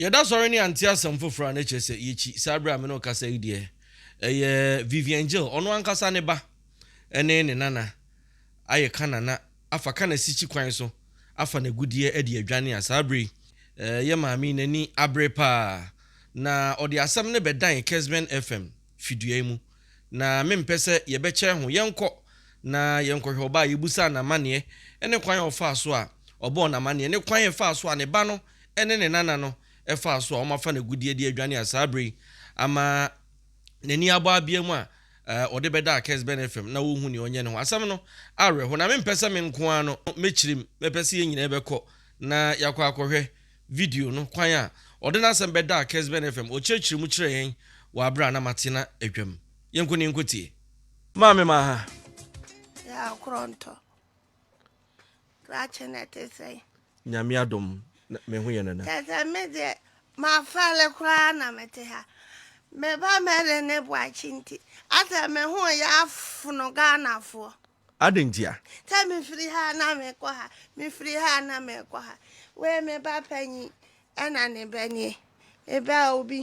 Yɛda sɔre ne ante asɛm foforɔ a na kyerɛ sɛ yɛkyi saa berɛ a me ne wo kasa yi deɛ ɛyɛ Vivian Jill ɔno ankasa ne ba ne ne nana ayɛ ka nana afa ka n'asikyi kwan so afa n'agudeɛ adi adwane a saa berɛ yi yɛ maame yi n'ani abere paa na ɔde asɛm no bɛdan Kesben FM fidua yi mu na mempɛ sɛ yɛbɛkyɛ ho yɛnkɔ na yɛnkɔhwɛ ɔbaa yɛbusaa n'amaneɛ ne kwan a ɔfaa so a ɔbɔɔ n'amaneɛ ne kwan a ɛfaa so a ne ba no ne ne nana no faa so a wɔafa no agudeɛ de adwane a saa berɛ yi ama n'ani abɔ abea mu a ɔde bɛdaa Kes Ben FM na wɔhu nea ɔnyɛ ne ho. Asɛm no awerɛho na mempɛ sɛ me nko ara no mɛkyirim, mɛpɛ sɛ yɛn nyinaa bɛkɔ na yɛakɔ akɔhwɛ video no kwan a ɔde n'asɛm bɛdaa Kes Ben FM. Ɔkyerɛkyerɛ mu kyerɛ yɛn wɔ aberɛ a na Matina adwam. Yɛnkɔ na yɛnkɔtie. Maame Maha. Yɛa Korɔntɔ. Krakye na ɛte sɛn? Nyame adom me ho yɛ nana. Kyɛsɛ me deɛ mafɛle koraa na mete ha me ba mɛle ne boakye nti asɛ me ho yɛ afono Ghanafoɔ. Adɛn nti a? Sɛ mefiri ha na mekɔ ha mefiri ha na mekɔ ha wei me ba panyin Ɛna ne bɛ nie, me bɛ a obi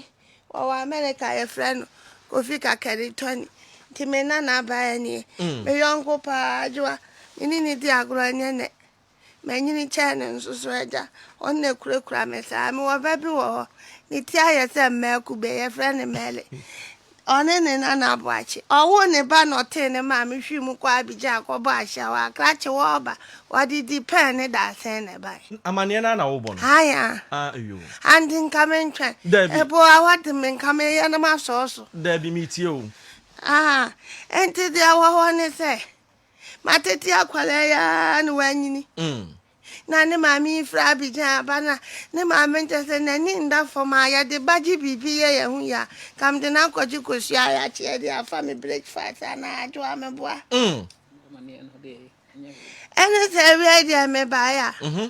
ɔwɔ Amerika yɛfrɛ no Kofi Kakari Tony nti me nana baa nie, me yɔnko paa Adwoa me ne no di agorɔ ɛnyɛ nnɛ manyini kyɛn no nso so agya ɔno na ɛkurakura me saa, mewɔ bɛ bi wɔ hɔ ne ti ayɛ sɛ mmaa kube yɛfrɛ no Mɛɛle Ɔne ne nana aboakye. Ɔwoo ne ba na ɔtee ne maame hwi mu kɔɔ Abidjan kɔbɔɔ ahyiaw a krakye wɔ hɔ ba. Wɔde dipɛn ne dadesɛn na ɛbae. Amanneɛ no ara na worebɔ no? Aane aa. Ah, eyoo. Ante nka mentwɛn. Daabi. Ebo a wɔde me nka me yɛ no masɔɔ so. Daabi, meretie o. Aa, enti deɛ ɛwɔ hɔ ne sɛ, matete akwadaa yi ara na wanyini. Mm. na ne maame yi firi Abidjan aba na ne maame nkyɛ sɛ n'ani nda fam a yɛde ba gye biribi yɛ yɛn ho yie a, nka mede no akɔgye kosua a yɛakye de afa me breakfast anaa adwo a meboa. Ɛne sɛ awiei deɛ mebaeɛ a, mm-hmm.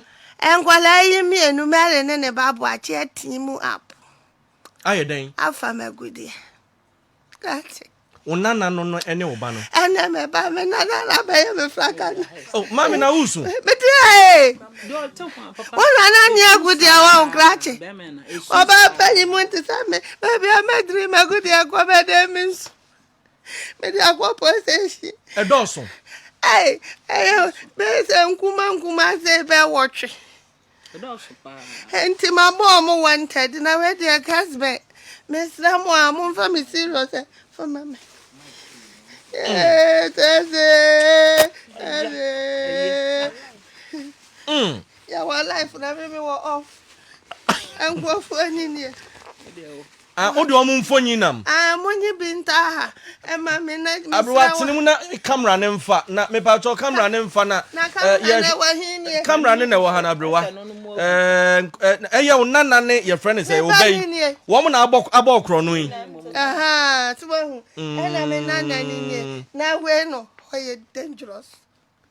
nkwadaa yi mmienu Mary ne ne ba boakye atii mu apo. Ayɛ dɛn? Afa m'agudeɛ. Ate. Wo nana no no ne wo ba no. Ɛnna me ba me nana na bɛyɛ me faka. Oh, maame na wusu. Mete ee. Wo nana ni egu deɛ wɔ nkrakye. Ɔbaa panyin mu nti sɛ me baabi a mɛdiri mɛgu deɛ kɔ bɛdɛ me nsu. Mede akɔ police station. Ɛdɔɔso. Ɛyɛ bɛyɛ sɛ nkuma nkuma sɛ bɛwɔtwe. nti mabɔ ɔmo wanted na wei deɛ cars bɛ mesrɛ mo a momfa me serious ɛ fa ma me tɛse tɛse yɛwɔ life na me mewɔ off nkurɔfoɔ ani nie Ah wo deɛ ɔmo mfonyin nam. Ah monyi bi nta ha ma me na mesrɛ wo. Aberewa tene mu na camera no nfa na mepatwɔ camera no nfa na. Na camera no ɛwɔ he nie. Camera no na ɛwɔ ha no aberewa. Eh ɛyɛ wo nana ne yɛfrɛ no sɛ ɔbɛ yi. Wɔn na abɔ abɔ ɔkorɔ no yi. Ahaa so wahu ɛna me nana no nie na wei no ɔyɛ dangerous.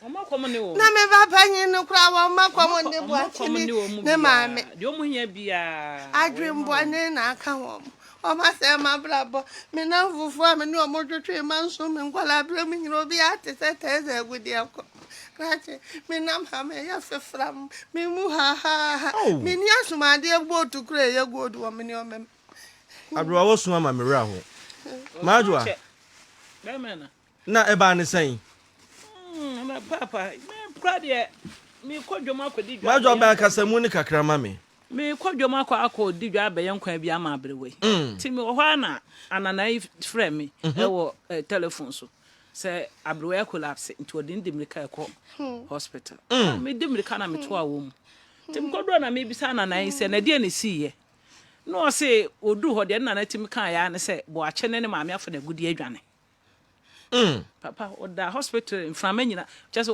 Na me ba panyin no koraa wɔmma kɔm nne boakye bi ne maame. Adwemmɔne na aka wɔn. Wɔasɛe m'abrabɔ. Me nnamfofo a me ne wɔn twetwee mma nso me nkwadaa bere mu nyinaa obiara te sɛ Theresa Agudiako. Krakye, me nam ha mɛyɛ fefram. Me mu hahaaha. Minni asumadeɛ bootu koro a ɛyɛ gold wɔ me nneɛma mu. Aberewa wosu ama me werɛ ahow. M'adoa. Na ɛbaa ne sɛn? Mm, papa, me kora deɛ, mekɔ dwom akɔdi dwa. Madwa bɛn akasamu ne kakra ma me. Mekɔ dwom akɔ akɔ di dwa abɛyɛ nkwa bi ama aberewa yi. Mm. Ti mi wɔ hɔ a na anana yi frɛ me mhm. ɛwɔ eh, telephone so sɛ aberewa yɛ collapse nti ɔde ne di mirika ɛkɔ hmm. hospital. Mm. Ah, me di mirika na me to a wɔ mu. Ti mi kɔ do na me bisa anana yi sɛ na deɛ ne si yɛ. Na ɔse odu hɔ deɛ nana ti mi kan ya ne sɛ bɔ akye ne ne maame afɔ na agudi adwane. Mm. Papa ɔda hospital mframa nyina kyɛ sɛ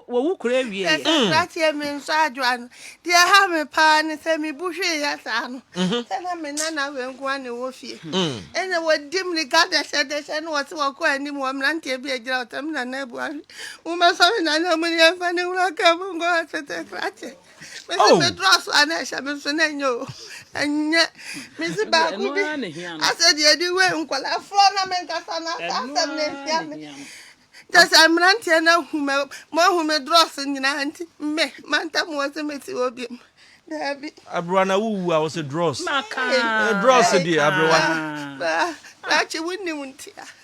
wɔwo kura awie yɛ. Ɛsɛ krateɛ me nso adwoa no deɛ ha me paa ne sɛ mebu hwee yɛ saa no mhm. sɛ na me nana wei nko a ne wɔ fie mm. ɛna wɔdi mmirika dɛhyɛdɛhyɛ no wɔse wɔkɔ anim wɔ mmeranteɛ bi agyina wɔsɛ me nana abu ahwe womɛsɔre nana mu ne yɛmfa ne wura ka mu nkɔ hospital krateɛ mesi oh. meduru aso a na ɛhyɛ me nso na ɛnyɛ o ɛnyɛ mesi baako bi asɛ deɛ ɛde wei nkɔlafoɔ na menkasa na asɛ asɛm na ɛhia me kyɛ sɛ mmeranteɛ no ahu me moahu me drɔs nyinaa nti me manta moɔ sɛ mɛsi hɔ biam daabi aberewa na wowu a wo sɛ drɔs drɔs deɛ aberewa nakye wonim ntia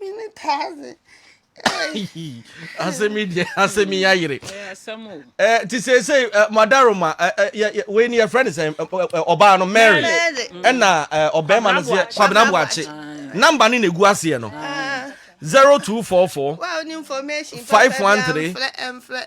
mene taa se asɛm yi deɛ asɛm yi ayere nti seesei madaroma wei ne yɛfrɛ ne sɛ ɔbaa no mary ɛna ɔbɛrima no sɛ kwabena boakye namba ne na ɛgu aseɛ no 0244 513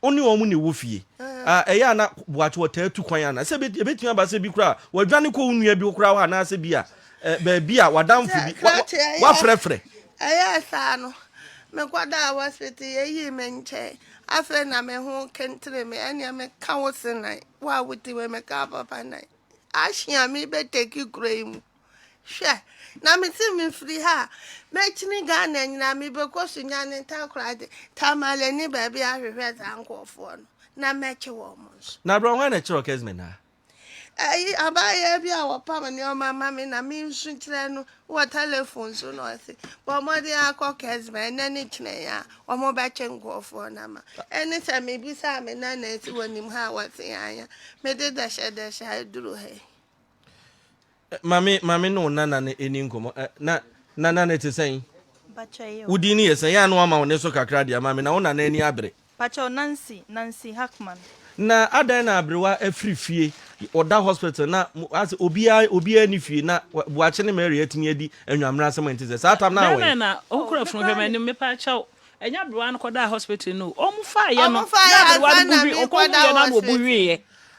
Wo ne wɔn na ɛwɔ fie. Ɛyɛ a na boatewa taa tu kwan anaa? Sɛ ebetumi aba sɛ bi koraa wadwane kɔ wo nua bi koraa hɔ anaasɛ bi a baabi a wadamfo bi wafrɛfrɛ. Ɛyɛɛ saa no, mekɔdaa hospital, yeyii me nkyɛe. Afei na me ho kentere me. Ɛnneɛ meka wo se nan, wo a wote wei meka papa nan. Action a mebɛtake kura yi mu. Hwɛ, na mese mefiri ha a, mɛkyini Ghana nyinaa, mebɛkɔ Sunyani, Takoradi, Tamale ne baabi ahwehwɛ saa nkurɔfoɔ no, na mɛkye wɔn nso. Na berɛ hwan na ɛkyerɛ Okesme no a? Ayi, abaayewa bi a wɔpam nneɛma ma me na mensu kyerɛ no wɔ telefon so na ɔse, bɔ mmɔden ara kɔ Okesme, ɛnnɛ ne kyerɛ yi a, wɔbɛkye nkurɔfoɔ no ama. Ɛne sɛ mebisaa me nanaasi wɔnim ha a, wɔse yɛanya. Mede dɛhyɛdɛhyɛ aduru ha yi. Maame maame ne wo nana no ɛni nkɔmmɔ eh, na nana no te sɛn? Wo din no yɛ sɛn? Yɛ a na wama wo ne so kakra deɛ maame na wo nana ani abere. Pakyɛw Nancy Nancy Hackman. Na adɛn na aberewa afiri fie ɔda hospital na asɛ obiara obiara ni fie na Boakye ne Mary atumi adi anwammerɛ asɛm ɛnte sɛ saa tam no awɛn. Bɛn na ɔkura funu hwɛ m'anim me pakyɛw ɛnyɛ aberewa no kɔdaa hospital no wɔn faa yɛ no na aberewa no bu hwi ɔkɔ hu yɛ no ama ɔbu hwi yɛ.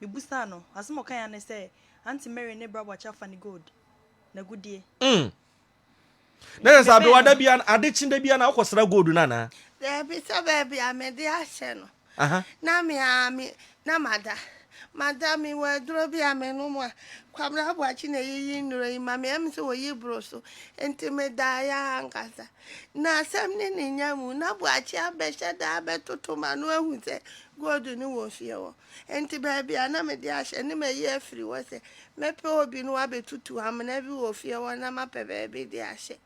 Mibusaa no, asem ɔkae ara ne sɛ, Aunty Mary ne bra boakye afa ne gold. N'agudeɛ. Mm. Na Enti kyerɛ sɛ mebɛɛ abewa da no. bia, ade kye da bia na wokɔ sra gold no anaa? Daabi, sɛ baabi a mede ahyɛ no, Aha. na me ara me, na mada. Mada, mewɔ aduro bi a menom a, Kwabena Boakye na ɛyiyi nnuro yi ma me, ɛm sɛ ɔyi boro so. Enti medaeɛ ara ankasa. N'asɛm ne ne nya mu na boakye abɛhyɛ da abɛtoto ma no ahu sɛ gold no wɔ fie hɔ. Enti baabi a na mede ahyɛ ne mayi afiri hɔ sɛ mɛpɛ obi no abɛtutu amena bi wɔ fie hɔ na mapɛ baabi de ahyɛ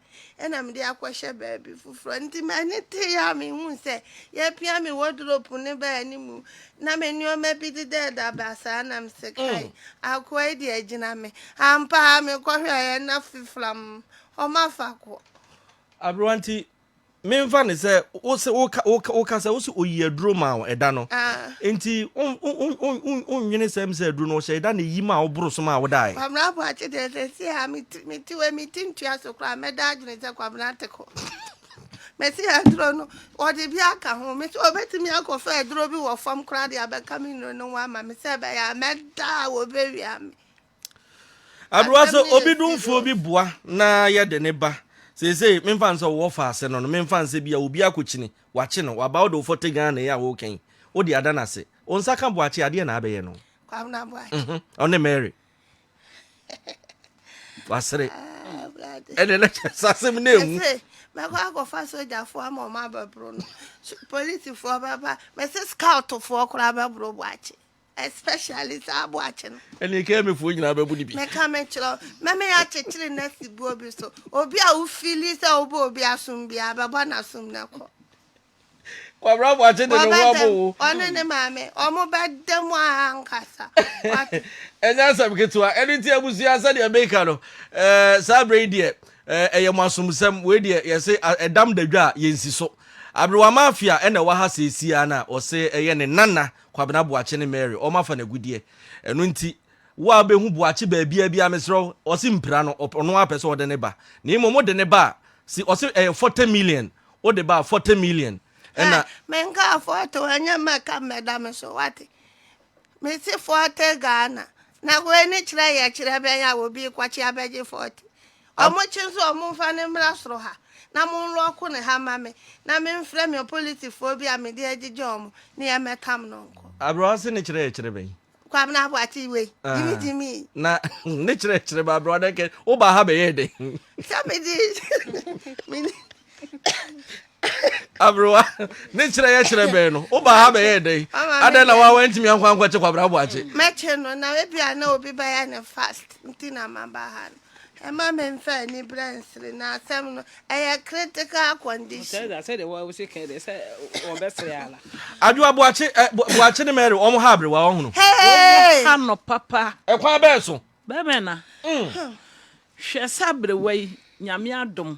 ɛna mede akɔhyɛ baabi foforɔ. Enti m'ani teeɛ a mehuu sɛ yɛapia me wɔdropu no baa anim na me nneɛma bi deda ɛda basaa na mese kai, akoa yi deɛ agyina me. Ampa ara mekɔhwɛeɛ na fiflam Ɔma faako. Aberewa nti menfa ne sɛ wose woka woka woka sɛ wose oyi aduro ma wo ɛda no. Ah. Nti wonwene sɛm sɛ aduro no ɔhyɛ ɛda na eyi ma woboro so ma wodae. Kwabena po akye deɛ sɛ si a mete wei mete ntua so koraa mɛda adwene sɛ kwabena te kɔ. Mɛsi aduro no ɔde bi aka ho me sɛ ɔbɛtumi akɔfa aduro bi wɔ fam koraa de abɛka me nnuro no ho ama me sɛ ɛbɛyɛ a mɛda a wɔbɛwia me. Aberewa sɛ obi domfoɔ bi boa na yɛde ne ba seesei memfa nsɛ wɔwɔ faase no no memfa nsɛ bi a obi akɔkyini wakye no waba wode wofɔte Ghana yi a woka yi wode ada no ase wo nsa ka boakye adeɛ na abɛyɛ no ɔne Mary wasere ɛne na kyɛ sɛ asɛm no ɛwu mɛkɔ akɔfa sogyafoɔ ama ɔma abɛboro no polisifoɔ bɛba mɛse scoutfoɔ koraa bɛboro boakye Especially saa aboakye no. Ɛne KMA foɔ nyinaa bɛbu no bi. Meka me kyerɛ wo, mɛma yɛakyekyere no asi boɔ bi so. Obi a wo feeli sɛ wobɔ obi asom biara, bɛbɔ n'asom na kɔ. Kwabra aboakye de ne ho abɔ wo. Ɔne ne maame, ɔmo bɛda mu ara ankasa. Wate. Ɛnyɛ asɛm ketewa. Ɛno nti abusua sɛdeɛ meka no, eh, saa berɛ yi deɛ, eh, ɛyɛ mo asomsɛm. Wei deɛ yɛse a- ɛdam da dwa a, yɛnsi so. Aberewa Mafia ɛna ɛwɔ ha seesiaa no a, ɔse ɛyɛ ne nana Kwabena Boakye ne Mary wɔn afa no agudeɛ. Ɛno nti, wo a wobɛhu Boakye baabiara biara mesrɛ wo, ɔse mpira no, ɔpɛ, ɔno ara pɛ sɛ ɔde ne ba. Na mmom wode ne ba a, se, ɔse ɛyɛ forty million, wode ba a, forty million Hɛ, ɛna. menkaa forty o, ɛnyɛ mɛka mmɛda me so, woate? Mese forty Ghana, Na wei ne kyerɛ yɛ kyerɛ bɛn a obi rekɔkye abɛgye fɔɔte? Wɔkye nso a, momfa no mmra soro ha, na monlɔɔko no ha mma me, na memfrɛ me ɔpolisifoɔ bi a mede agyegye wɔn, na yɛmmɛtam no nkɔ. Aberewa se ne kyerɛ yɛ kyerɛ bɛn? Kwabena Boakye wei, gyimi gyimi yi. Na ne kyerɛ yɛ kyerɛ bɛn? Aberewa dɛn kɛ, wobaa ha bɛyɛɛ dɛn? Sɛ mede, mede. Aberewa, ne kyerɛ yɛ kyerɛ bɛn no? Wobaa ha bɛyɛɛ dɛn? Adɛn na woa woantumi ankɔ ankɔkye Kwabena Boakye? Mɛkye no, na ebia na obi bɛyɛ no fast nti na maba ha no. Ɛmma memfa aniberɛ nsere no, asɛm no, ɛyɛ critical condition. Adwoa, Boakye, eh, Boakye ne Mary, wɔn ha Aberewa, wɔn hono. Wɔn ha no papa. Ɛkwan bɛn so? Bɛmɛ na. Mm. Hwɛ sɛ Aberewa yi, Nyame adom,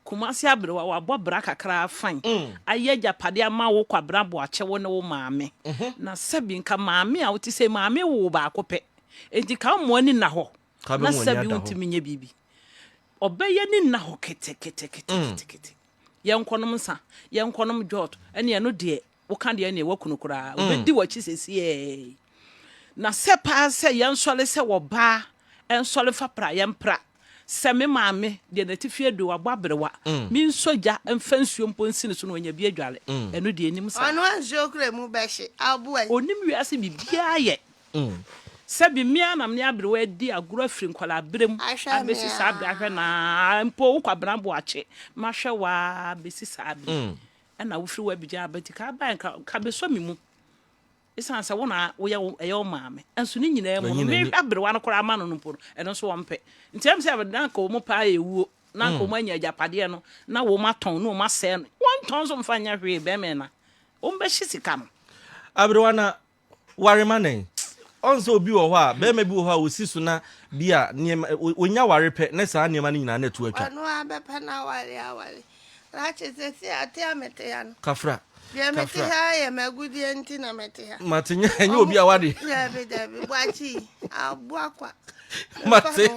Kumasi aberewa, wabɔ bra kakra afan, ayɛ agyapadeɛ ama wo kwabena boakye wo ne wo maame. Na sɛbi nka maame a wote sei maame woo baako pɛ. Enti ka mo ani nna hɔ na sɛbi wontumi nyɛ biribi. Ɔbɛyɛ ne nna hɔ ketekete ketekete. Yɛnkɔnom nsa, yɛnkɔnom jot, ɛne ɛno deɛ Woka deɛ ɛneɛ woaku no koraa. Mm. Obɛdi w'akyi sesieɛɛi. Na sɛ paa sɛ yɛnsɔre sɛ wɔbaa ɛnsɔre fa pra yɛmpra. Sɛ me maame deɛ n'atifi aduro wabɔ aberewa Mm. mensɔ gya mfa nsuo mpo nsi ne so na wanya bi adware. Mm. Ɛno deɛ ɛnim saa. Ɔno nsuo kura mu bɛhye aboa yi. Ɔnim wiase biribiara yɛ. Mm. Sɛbi me ara na me aberewa adi agorɔ afiri nkwadaa berɛ mu Ahwɛ me abɛsi saa berɛ ara. ahwɛ no ara. Mpo wo Kwabena Boakye, mahwɛ wo ara bɛsi saa berɛ yi. Mm. Ɛna wofiri hɔ abegya abati ka abae nka ka besɔ me mu esiane sɛ wo na woyɛ wo ɛyɛ wo maame nso ne nyinaa mu no Manyi n'ani. me aberewa no koraa ama no no mpo no ɛno nso wɔn mpɛ nti ɛm sɛ na nka wɔn paa yɛ wuo na nka wɔn anya agyapadeɛ no na wɔn atɔn na wɔn asɛe no wɔn ntɔn nso mfa nyɛ hwee bɛrima na wɔn bɛhye sika no. Aberewa na Ware ma nɛn? Ɔn sɛ obi wɔ hɔ a, bɛɛma bi wɔ hɔ a osi so na bi a nneɛma, onya ware pɛ ne saa nneɛma no nyinaa na ɛto atwa. Ɔno ara bɛpɛ no aware aware. Rache, sɛsi ate a mete ha no. Kafra. Deɛ mete ha ara yɛ m'agudeɛ nti na mete ha. Mate, nyɛ obi a wade. Dabi, dabi, boakye yi, aboa kwa. mate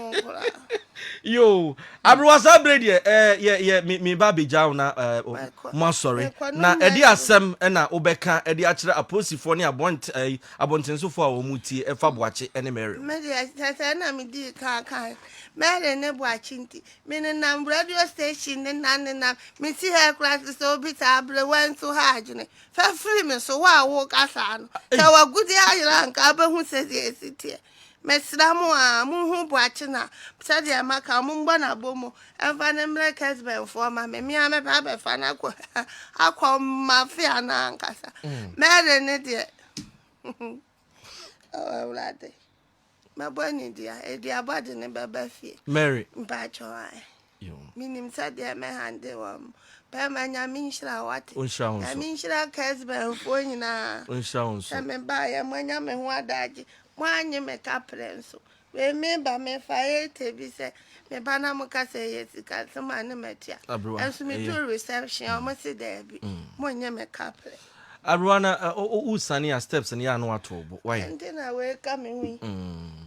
yo aberewa saa bere deɛ ɛɛ eh, yɛ yɛ mi mi ba abegya na ɛɛ eh, mo asɔre na ɛde asɛm ɛna wobɛka ɛde akyerɛ apolisifoɔ ne abɔnt ɛɛ eh, abɔntensofoɔ a wɔn ti ɛfa boakye ɛne mɛri. mɛri sɛsɛ na mi di kankan mɛri ne boakye nti mi nenam radio station ne nam ne nam mi si ha ekura sisɛ obi ta aberewa nso ha adwene fɛfiri mi so wo a wo kasa no sɛ wagudi ayira nka abɛhu sɛ deɛ esi teɛ. Mesrɛ mo aa, monhu Boakye na sɛdeɛ maka, mommɔ no abɔmu mfa no mmrɛ Kesben foɔ ma me, me ara mɛba abɛfa no akɔ akɔ Mafia no ankasa. Mary no deɛ, oh Awurade, mɛbɔ anidua, aduabɔ de no bɛba fie, mpaatwɔ ae. you. Menim sɛdeɛ mɛ handle wɔn pɛ ma nyame nhyira wate. Onhyira wo nso. Nyame nhyira Kesben foɔ nyinaa. Onhyira wo nso. Sɛ me baayɛ mo anya me ho adaagye mo anye me kaprɛ nso wei me ba me fa ete bi sɛ me ba na mo ka sɛ ɛyɛ sika nso ma ne matua. Abrewa ɛyɛ. Nso me duru reception wɔn se daabi mo nye me kaprɛ. Aroa na wo sane a steps no yɛ ano ato wo bo why. Ɛnti na wei ka me ho yi.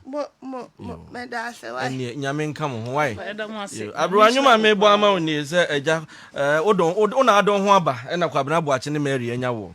Mo mo mo meda ase why. Ɛnneɛ nyame nka mo ho why. Aroa nnwom a mebɔ ama wo nie sɛ agya ɛɛ wodɔn wo na adɔn ho aba ɛna Kwabena Boakye ne Mary anya woɔ.